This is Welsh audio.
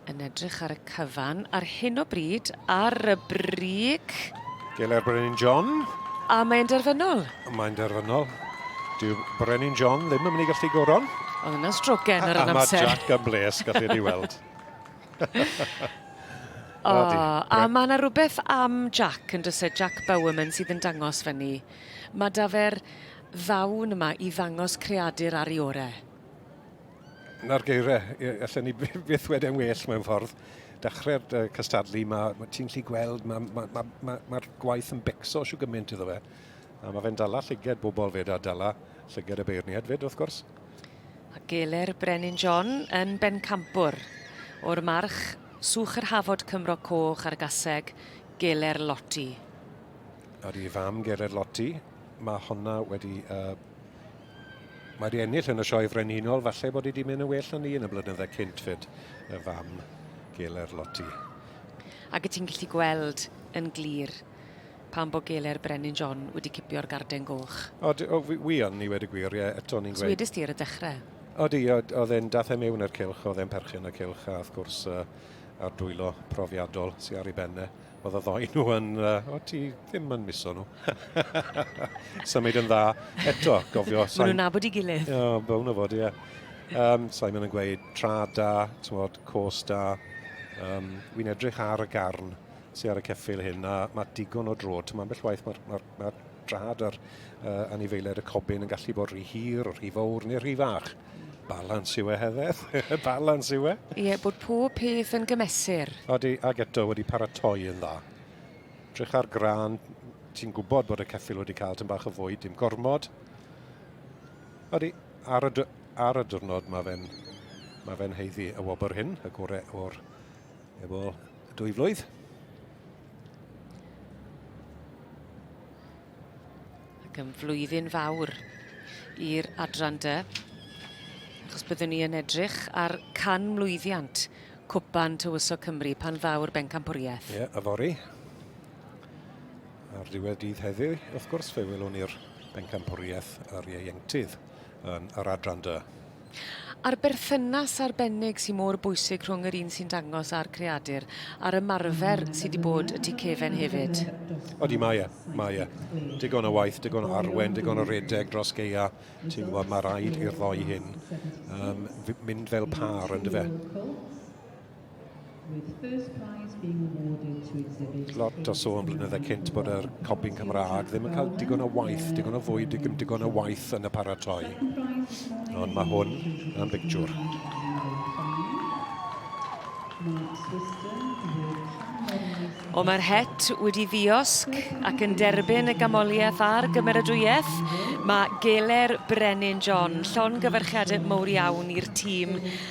Yn edrych ar y cyfan ar hyn o bryd ar y brig. Geler Brenin John. A mae'n derfynol. Mae'n derfynol. Dyw Brenin John ddim yn mynd i gallu goron. Oedd yna strogen ar yr amser. A mae Jack yn bles, gallu ei weld. o, a mae yna rhywbeth am Jack yn dysau Jack Bowerman sydd yn dangos fyny. Mae da fe'r ddawn yma i ddangos creadur ar ei orau. 'na'r geiriau. Ie, allen ni by- byth wedau'n well mewn ffordd. Dechrau'r uh, cystadlu, mae ma ti'n lli gweld, mae'r ma, ma, ma, ma gwaith yn becso siw gymaint iddo fe. A mae fe'n dala llyged bobl fyd a dala llyged y beirniad fyd, wrth gwrs. A geler Brenin John yn bencampwr o'r march Swch yr Hafod Cymro Coch ar gaseg Geler Loti. Ar i fam Geler Loti, mae honna wedi uh, Mae di ennill yn y Sioe Frenhinol, falle bod i di mynd yn well na ni yn y blynyddau cynt fyd, y fam Geler Loti. Ac y ti'n gallu gweld yn glir pan bod Geler Brenin John wedi cipio'r garden goch. O, o wi yn ni wedi gwir, ie, eto ni'n gweud... Swedus ti ar y dechrau. O di, oedd e'n dath e mewn i'r cilch, oedd e'n perchyn y cilch, a wrth gwrs uh, a'r dwylo profiadol sy'n ar ei benne. Oedd y ddoi nhw yn, uh, o ti ddim yn miso nhw. Symud yn dda. Eto, gofio... Maen nhw'n nabod i gilydd. O, oh, bown o fod, ie. Yeah. Um, Simon yn gweud tra da, tywod, cos da. Um, Wy'n edrych ar y garn sy'n ar y ceffil hyn, a mae digon o drod. Mae'n bell waith mae'r ma, ma, ma drad a'r uh, anifeiliaid y cobyn yn gallu bod rhy hir, rhy fawr neu rhy fach. Balans yw e, Heather. Balans yw e. Ie, yeah, bod pob peth yn gymesur. Odi, ag eto wedi paratoi yn dda. Drych ar gran, ti'n gwybod bod y ceffil wedi cael tyn bach o fwyd, dim gormod. Odi, ar y, ar y diwrnod mae fe'n mae fe'n heiddi y wobr hyn, y gore o'r efo dwy flwydd. Ac yn flwyddyn fawr i'r adran dy. Achos byddwn ni yn edrych ar can mlwyddiant Cwpan Tywysog Cymru pan ddaw'r bencampwriaeth. Ie, a fori. Ar ddiwedd dydd heddiw, wrth gwrs, fe welwn ni'r bencampwriaeth yr ieuenctydd yn yr adran dy. A'r berthynas arbennig sy mor bwysig rhwng yr un sy'n dangos a'r creadur, a'r ymarfer sy 'di bod y tu cefen hefyd. Odi mae e, mae e. Digon o waith, digon o arwen, digon o redeg dros gaea, ti'n gwybod, mae rhaid i'r ddou hyn yym mynd fel pâr, yndyfe? Lot o sôn blynydde cynt bod yr copy'n Cymraeg ddim yn cael digon o waith, digon o fwyd, digon, digon o waith yn y paratoi. Ond mae hwn yn bictiwr. O mae'r het wedi ddiosg ac yn derbyn y gamoliaeth a'r gymeradwyaeth. Mae Geler Brenin John, llon gyfarchiadau mowr iawn i'r tîm